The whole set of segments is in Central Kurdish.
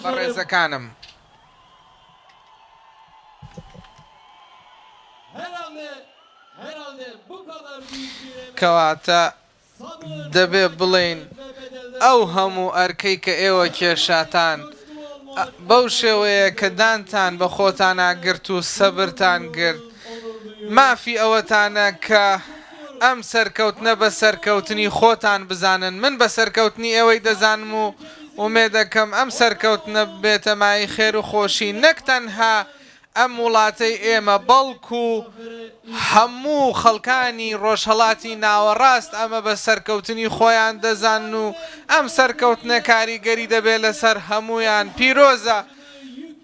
بەڕێزەکانم. کەواتە دەبێ بڵێین ئەو هەموو ئەرکەی کە ئێوە کێشاتان بەو شێوەیە کە دانتان بە خۆتانا گرت و سەبرتان گرت، مافی ئەوەتانە کە ئەم سەرکەوتنە بە سەرکەوتنی خۆتان بزانن، من بە سەرکەوتنی ئێوەی دەزانم و ئومێدەکەم ئەم سەرکەوتنە ببێتە مایەی خێر و خۆشی نەک تەنها ئەم وڵاتەی ئێمە بەڵکو هەموو خەڵکانی ڕۆژهەڵاتی ناوەڕاست ئەمە بە سەرکەوتنی خۆیان دەزانن و ئەم سەرکەوتنە کاریگەری دەبێت لەسەر هەموویان پیرۆزە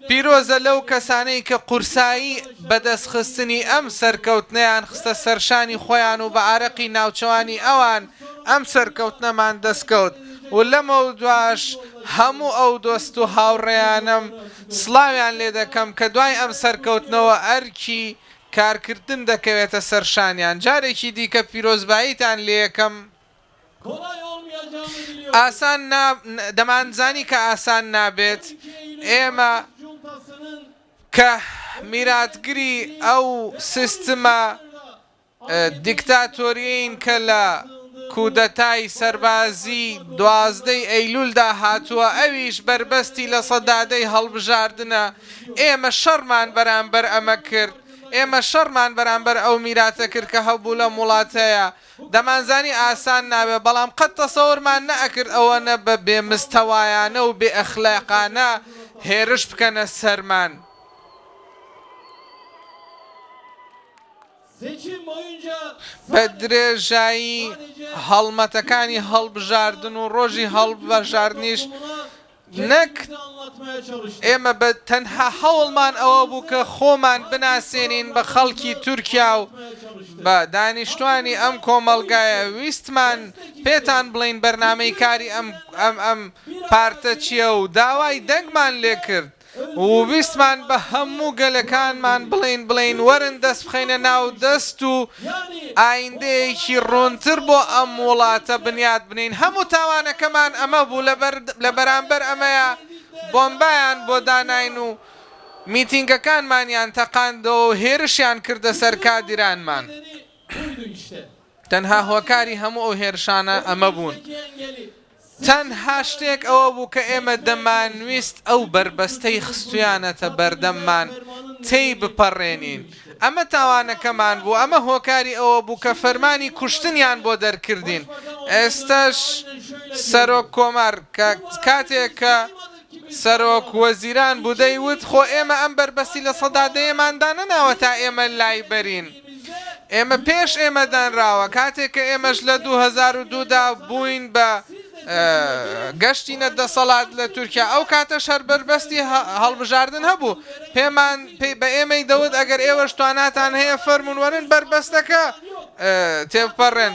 پیرۆزە لەو کەسانەی کە قورسایی بەدەستخستنی ئەم سەرکەوتنەیان خستە سەرشانی خۆیان و بە ئارەقی ناوچەوانی ئەوان ئەم سەرکەوتنەمان دەستکەوت و لەمەودواش هەموو ئەو دۆست و هاوڕێیانەم سڵاویان لێ دەکەم کە دوای ئەم سەرکەوتنەوە ئەرکی کارکردن دەکەوێتە سەرشانیان جارێکی دیکە پیرۆزباییتان لێ یەکەم ئاسان نا دەمانزانی کە ئاسان نابێت ئێمە کە میراتگری ئەو سیستمە دیکتاتۆریین کە لە کودەتای سەربازی دوازدەی ئەیلولدا هاتووە ئەویش بەربەستی لە سەدادەی هەڵبژاردنە ئێمە شەڕمان بەرامبەر ئەمە کرد ئێمە شەڕمان بەرامبەر ئەو میراتە کرد کە هەبوو لەم وڵاتەیە دەمانزانی ئاسان نابێت، بەڵام قەت تەسەورمان نەئەکرد ئەوەنە بە بێ مستەوایانە و بێ ئەخلاقانە هێرش بکەنە سەرمان. بە درێژایی هەڵمەتەکانی هەڵبژاردن و ڕۆژی هەڵبژاردنیش نەک ئێمە بە تەنها هەوڵمان ئەوە بوو کە خۆمان بناسێنین بە خەڵکی تورکیا و بە دانیشتوانی ئەم کۆمەڵگایە ویستمان پێتان بڵێین بەرنامەی کاری ئەم پارتە چیە و داوای دەنگمان لێکرد و ویستمان بە هەموو گەلەکانمان بڵێین بڵێین وەرن دەست بخەینە ناو دەست و ئایندەیەکی ڕوونتر بۆ ئەم وڵاتە بنیات بنێین هەموو تاوانەکەمان ئەمە بوو لە بەرامبەر ئەمەیا بۆمبایان بۆ داناین و میتینگەکانمانیان تەقاندەوە و هێرشیان کردە سەر کادیرانمان تەنها هۆکاری هەموو ئەو هێرشانە ئەمە بوون. تەنها شتێک ئەوە بوو کە ئێمە دەمانویست ئەو بەربەستەی خستویانەتە بەردەممان تێی بپەڕێنین. ئەمە تاوانەکەمان بوو، ئەمە هۆکاری ئەوە بوو کە فەرمانی کوشتنیان بۆ دەرکردین. ئێستەش سەرۆک کۆمار کاتێک کە. سەرۆک وەزیران بودەی وت خۆ ئێمە ئەم بەربەستی لە سەدا دەیەمان دانەناوە تا ئێمە لایبەرین، ئێمە پێش ئێمە دانراوە، کاتێک کە ئێمەش لە دوو هەزار و دوو دا بووین بە گەشتینە دەسەڵات لە تورکیا ئەو کاتەش هەر بەربەستی هەڵبژاردن هەبوو، پێمان بە ئێمەی دەوت ئەگەر ئێوەش تواناتان هەیە فەرموون وەرن بەربەستەکە تێبپەڕێن.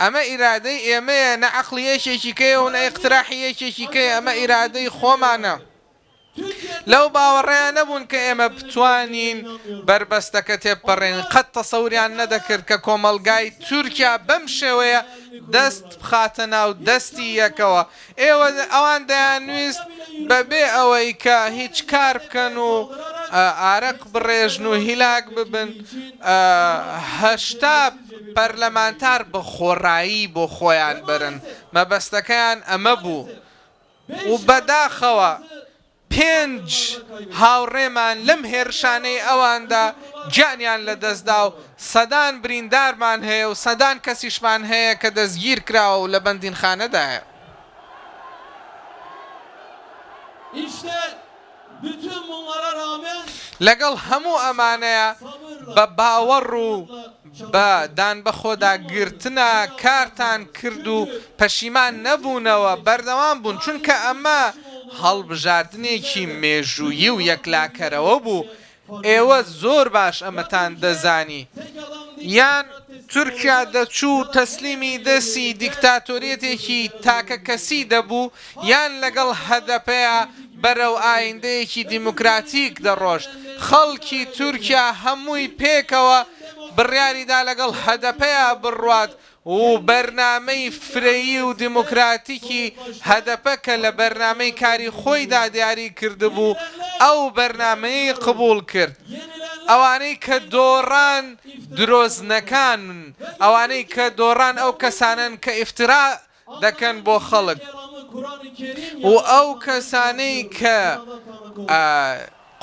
ئەمە ئیرادەی ئێمەیە نە عەقڵی یەکێکی کەیە و نە ئیقتراحی یەکێکی کەیە ئەمە ئیرادەی خۆمانە لەو باوەڕەیا نەبوون کە ئێمە بتوانین بەربەستەکە تێبپەڕێنین قەت تەسەوریان نەدەکرد کە کۆمەڵگای تورکیا بەم شێوەیە دەست بخاتە ناو دەستی یەکەوە ئێوە ئەوان دەیانویست بەبێ ئەوەی کە هیچ کار بکەن و ئارەق بڕێژن و هیلاک ببن، هەشتا پەرلەمانتار بە خۆڕایی بۆ خۆیان بەرن، مەبەستەکەیان ئەمە بوو و بەداخەوە پێنج هاوڕێمان لەم هێرشانەی ئەواندا گیانیان لەدەستدا و سەدان بریندارمان هەیە و سەدان کەسیشمان هەیە کە دەستگیرکراوە و لە بەندینخانەدایە. لەگەڵ هەموو ئەمانەیا بە باوەڕ و بە دان بەخۆدا گرتنە کارتان کرد و پەشیمان نەبوونەوە، بەردەوام بوون، چونکە ئەمە هەڵبژاردنێکی مێژوویی و یەکلاکەرەوە بوو، ئێوە زۆر باش ئەمەتان دەزانی، یان تورکیا دەچوو و تەسلیمی دەستی دیکتاتۆریەتێکی تاکەکەسی دەبوو، یان لەگەڵ هەدەپە. بەرەو ئایندەیەکی دیموکراتیک دەڕۆشت، خەڵکی تورکیا هەمووی پێکەوە بڕیاریدا لەگەڵ هەدەپەیا بڕوات و بەرنامەی فرەیی و دیموکراتیکی هەدەپە کە لە بەرنامەی کاری خۆیدا دیاری کردبوو ئەو بەرنامەیەی قبوڵ کرد ئەوانەی کە دۆڕان درۆزنەکانن ئەوانەی کە دۆڕان ئەو کەسانەن کە ئیفترا دەکەن بۆ خەڵک و ئەو کەسانەی کە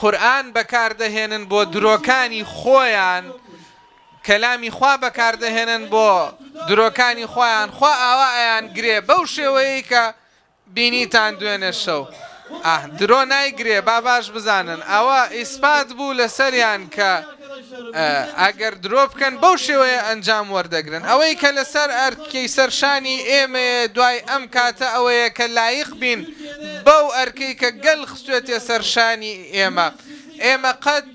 قورئان بەکاردەهێنن بۆ درۆکانی خۆیان کەلامی خوا بەکاردەهێنن بۆ درۆکانی خۆیان خوا ئاوا ئەیان گرێ بەو شێوەیەی کە بینیتان دوێنێ شەو. ئاه درۆ نایگرێ با باش بزانن ئەوە ئیسپات بوو لەسەریان کە ئەگەر درۆ بکەن بەو شێوەیە ئەنجام وەردەگرن ئەوەی کە لەسەر ئەرکەی سەرشانی ئێمەیە دوای ئەم کاتە ئەوەیە کە لایق بین بەو ئەرکەی کە گەل خستوێتێ سەرشانی ئێمە ئێمە قەت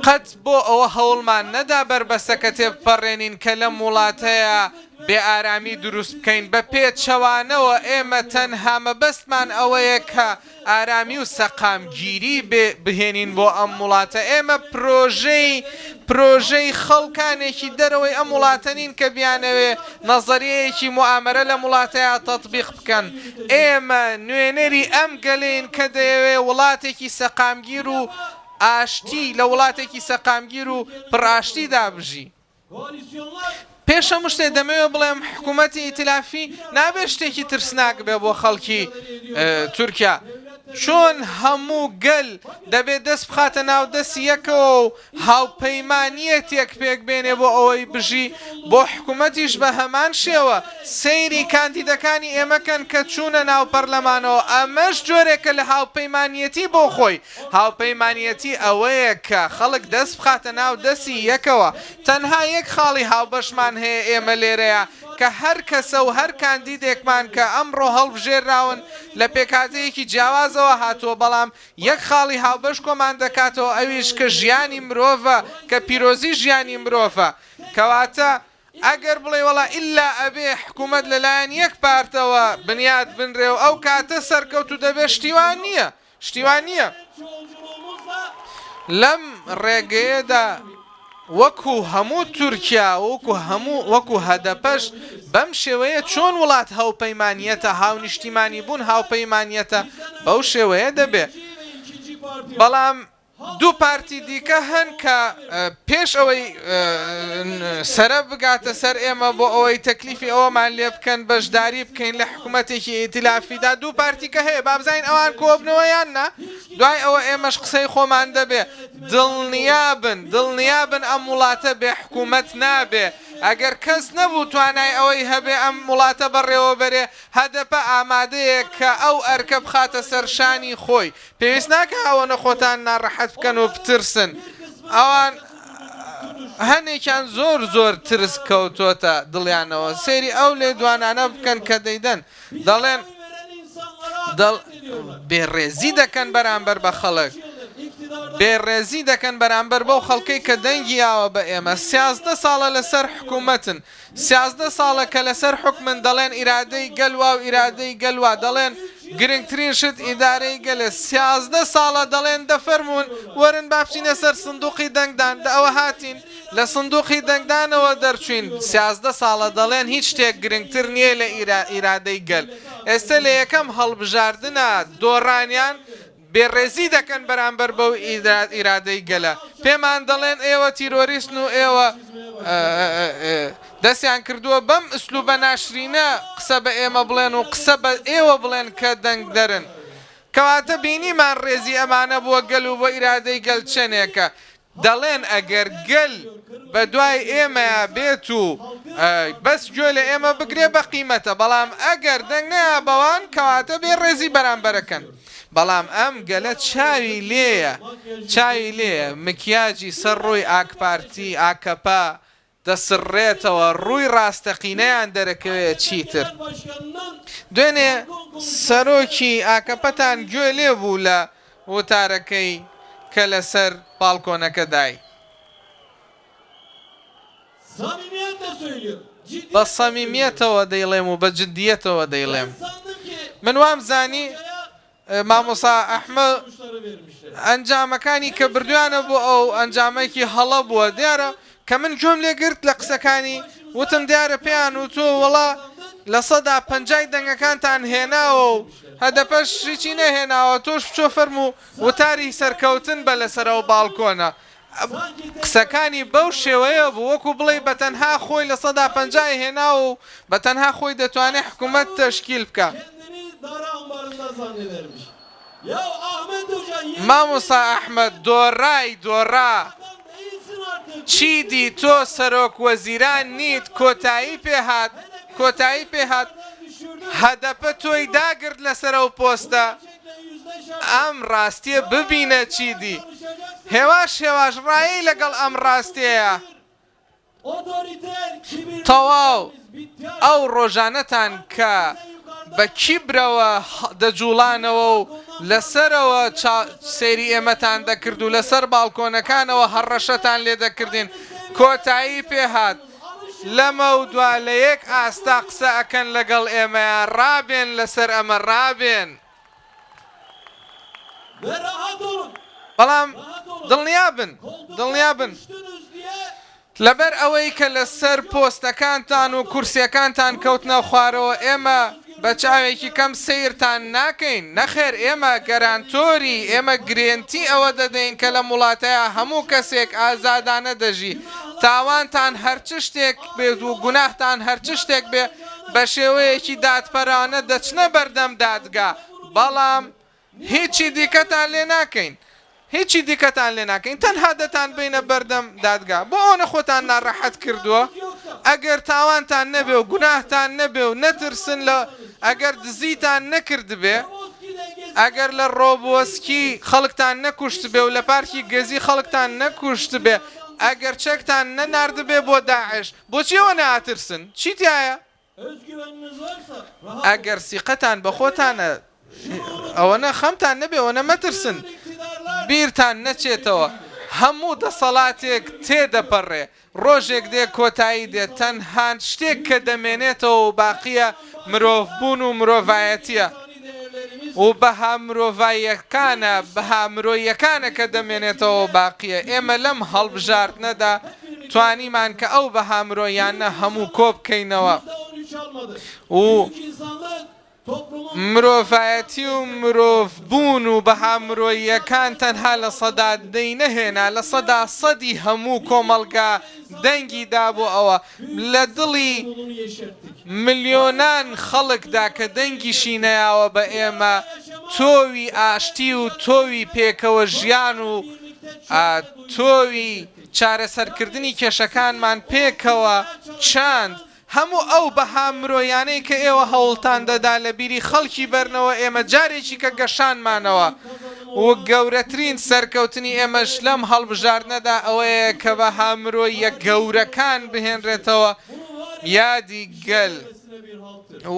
قەت بۆ ئەوە هەوڵمان نەدا بەربەستەکە تێبپەڕێنین کە لەم وڵاتەیا بێ ئارامی دروست بکەین بە پێچەوانەوە ئێمە تەنها مەبەستمان ئەوەیە کە ئارامی و سەقامگیری بهێنین بۆ ئەم وڵاتە ئێمە پرۆژەی پرۆژەی خەڵکانێکی دەرەوەی ئەم وڵاتە نین کە بیانەوێ نەزەریەیەکی موئامەرە لەم وڵاتەیا تەتبیق بکەن ئێمە نوێنەری ئەم گەلەین کە دەیەوێت وڵاتێکی سەقامگیر و ئاشتی لە وڵاتێکی سەقامگیر و پڕ ئاشتیدا بژی. پێش هەموو شتێ دەمەوێت بڵێم حکوومەتی ئیتلافی نابێت شتێکی ترسناک بێ بۆ خەڵکی تورکیا. چۆن هەموو گەل دەبێت دەست بخاتە ناو دەستی یەکەوە و هاوپەیمانیەتێک پێک بێنێ بۆ ئەوەی بژی بۆ حکومەتیش بە هەمان شێوە سەیری کاندیدەکانی ئێمە کەن کە چوونە ناو پەرلەمانەوە ئەمەش جۆرێکە لە هاوپەیمانیەتی بۆ خۆی هاوپەیمانیەتی ئەوەیە کە خەڵک دەست بخاتە ناو دەسی یەکەوە تەنها یەک خاڵی هاوبەشمان هەیە ئێمە لێرەیا کە هەر کەسە و هەر کاندیدێکمان کە ئەمڕۆ هەڵبژێرراون لە پێکهاتەیەکی جیاوازەوە هاتووە بەڵام یەک خاڵی هاوبەش کۆمان دەکاتەوە ئەویش کە ژیانی مرۆڤە کە پیرۆزی ژیانی مرۆڤە کەواتە ئەگەر بڵێی وەڵا ئیللا ئەبێ حکومەت لەلایەن یەک پارتەوە بنیات بنرێ و ئەو کاتە سەرکەوت و دەبێ شتی وا نییە شتی وا نییە لەم ڕێگەیەدا وەکو هەموو تورکیا وەکو هەموو وەکو هەدەپەش بەم شێوەیە چۆن وڵات هاوپەیمانیەتە هاونیشتیمانی بوون هاوپەیمانیەتە بەو شێوەیە دەبێ بەڵام دوو پارتی دیکە هەن کە پێش ئەوەی سەرە بگاتە سەر ئێمە بۆ ئەوەی تەکلیفی ئەوەمان لێ بکەن بەشداری بکەین لە حکوومەتێکی ئیتلافیدا دوو پارتیکە هەیە بابزین ئەوان کۆبنەوە یان نا دوای ئەوە ئێمەش قسەی خۆمان دەبێ دڵنیابن دڵنیابن ئەم وڵاتە بێ حکومەت نابێ ئەگەر کەس نەبوو توانای ئەوەی هەبێ ئەم وڵاتە بەڕێوەبەرێ هەدەپە ئامادەیە کە ئەو ئەرکە بخاتە سەر شانی خۆی پێویست ناکا ئەوەنە خۆتان ناڕەحەت بکەن و بترسن ئەوان هەنێکیان زۆر زۆر ترس کەوتۆتە دڵیانەوە سەیری ئەو لێدوانانە بکەن کە دەیدەن دەڵێن بێڕێزی دەکەن بەرامبەر بە خەڵک، بێڕێزی دەکەن بەرامبەر بەو خەڵکەی کە دەنگی یاوە بە ئێمە، سیازدە ساڵە لەسەر حکوومەتن، سیازدە ساڵە کە لەسەر حوکمن، دەڵێن ئیرادەی گەل وا و ئیرادەی گەل وا، دەڵێن گرنگترین شت ئیدارەی گەلە، سیازدە ساڵە دەڵێن دەفەرموون وەرن با بچینە سەر سندووقی دەنگدان، دە ئەوە هاتین، لە سندوقی دەنگدانەوە دەرچوین، سیازدە ساڵە دەڵێن هیچ شتێک گرنگتر نیە لە ئیرادەی گەل، ئێستە لە یەکەم هەڵبژاردنا دۆڕانیان بێ ڕێزی دەکەن بەرامبەر بەو ئیرادەی گەلە، پێمان دەڵێن ئێوە تیرۆریستن و ئێوە دەستیان کردوە بەم ئسلوبە ناشرینە قسە بە ئێمە بڵێن و قسە بە ئێوە بڵێن کە دەنگدەرن، کەواتە بینیمان ڕێزی ئەمانە بۆ گەل و بۆ ئیرادەی گەل چەنێکە، دەڵێن ئەگەر گەل بە دوای ئێمەیا بێت و بەس گوێ لە ئێمە بگرێ بە قیمەتە بەڵام ئەگەر دەنگ نەیا بەوان کەواتە بێ ڕێزی بەرامبەرەکەن بەڵام ئەم گەلە چاوی لێیە چاوی لێیە مکیاجی سەر ڕووی ئاکپارتی، ئاکەپە، دەسڕێتەوە ڕووی ڕاستەقینەیان دەرەکەوێت چیتر دوێنێ سەرۆکی ئاکەپەتان گوێ لێ بوو لە وتارەکەی کە لەسەر باڵکۆنەکە دای. بە سەمیمیەتەوە دەیڵێم و بە جدیەتەوە دەیڵێم من وام زانی مامۆستا ئەحمە ئەنجامەکانی کە بردویانە بۆ ئەو ئەنجامەکی هەڵە بووە دیارە کە من گوێم لێ گرت لە قسەکانی وتم دیارە پێیان وتوە وەڵا لە سەدا پەنجای دەنگەکانتان هێناوە و هەدەپەش هیچی نەهێناوە تۆش بچۆ فەرموو وتاری سەرکەوتن بە لەسەر ئەو باڵکۆنە قسەکانی بەو شێوەیە بوو وەکو بڵێی بەتەنها خۆی لە سەدا پەنجا ی هێناوە و بەتەنها خۆی دەتوانێت حکومەت تەشکیل بکات. مامۆستا ئەحمەد دۆڕای دۆڕا چیدی تۆ سەرۆک وەزیران نیت کۆتایی پێهات کۆتایی پێهات هەدەپە تۆی داگرت لەسەر ئەو پۆستە. ئەم ڕاستیە ببینە چیدی. هێواش هێواش ڕایەی لەگەڵ ئەم ڕاستێیە. تەواو ئەو ڕۆژانەتان کە بە کیبرەوە دەجوڵانەوە و لەسەرەوە سەیری ئێمەتان دەکرد و لەسەر باڵکۆنەکانەوە هەڕەشەتان لێدەکردین کۆتایی پێهات. لەمەودوا لە یەک ئاستا قسە ئەکەن لەگەڵ ئێمەیا ڕابێن لەسەر ئەمە ڕابێن بەڵام دڵنیا بن دڵنیا بن لەبەر ئەوەی کە لەسەر پۆستەکانتان و کورسیەکانتان کەوتنە خوارەوە ئێمە بە چاوێکی کەم سەیرتان ناکەین، نەخێر ئێمە گەرانتۆری، ئێمە گرێنتی ئەوە دەدەین کە لەم وڵاتەیا هەموو کەسێک ئازادانە دەژی، تاوانتان هەر چ شتێک بێت و گوناهتان هەر چ شتێک بێت بە شێوەیەکی دادپەرانە دەچنە بەردەم دادگا، بەڵام. هیچی دیکەتان لێ ناکەین. هیچی دیکەتان لێ ناکەین تەنها دەتانبەینە بەردەم دادگا بۆ ئەوەنە خۆتان ناراحەت کردووە ئەگەر تاوانتان نەبێ و گوناهتان نەبێ و نەترسن لە ئەگەر دزیتان نەکردبێ ئەگەر لە ڕۆبووسکی خەڵکتان نەکوشتبێ و لە پارکی گەزی خەڵکتان نەکوشتبێ ئەگەر چەکتان نەناردبێ بۆ داعش بۆچی ئەوەنە ئاترسن چی تیایە؟ ئەگەر سیقەتان بە خۆتانە ئەوەنە خەمتان نەبێ ئەوەنە مەترسن بیرتان نەچێتەوە هەموو دەسەڵاتێک تێ دەپەرێ ڕۆژێک دێ کۆتایی دێ تەنهان شتێک کە دەمێنێتەوە و باقیە مرۆڤ بوون و مرۆڤایەتیە. و بەها مرۆڤاییەکانە، بەها مرۆییەکانە کە دەمێنێتەوە و باقییە. ئێمە لەم هەڵبژاردنەدا توانیمان کە ئەو بەها مرۆییانە هەموو کۆبکەینەوە و مرۆڤایەتی و مرۆڤبوون و بەها مرۆییەکان تەنها لە سەدا دەی نەهێنا، لە سەدا سەدی هەموو کۆمەڵگا دەنگی دا بۆ ئەوە. لە دڵی ملیۆنان خەڵکدا کە دەنگیشی نەیاوە بە ئێمە، تۆوی ئاشتی و تۆوی پێکەوە ژیان و تۆوی چارەسەرکردنی کێشەکانمان پێکەوە چاند. هەموو ئەو بەها مرۆیانەی کە ئێوە هەوڵتان دەدا لە بیری خەڵکی بەرنەوە، ئێمە جارێکیکە گەشانمانەوە. و گەورەترین سەرکەوتنی ئێمەش لەم هەڵبژاردنەدا ئەوەیە کە بەها مرۆییە گەورەکان بهێنرێتەوە یادی گەل و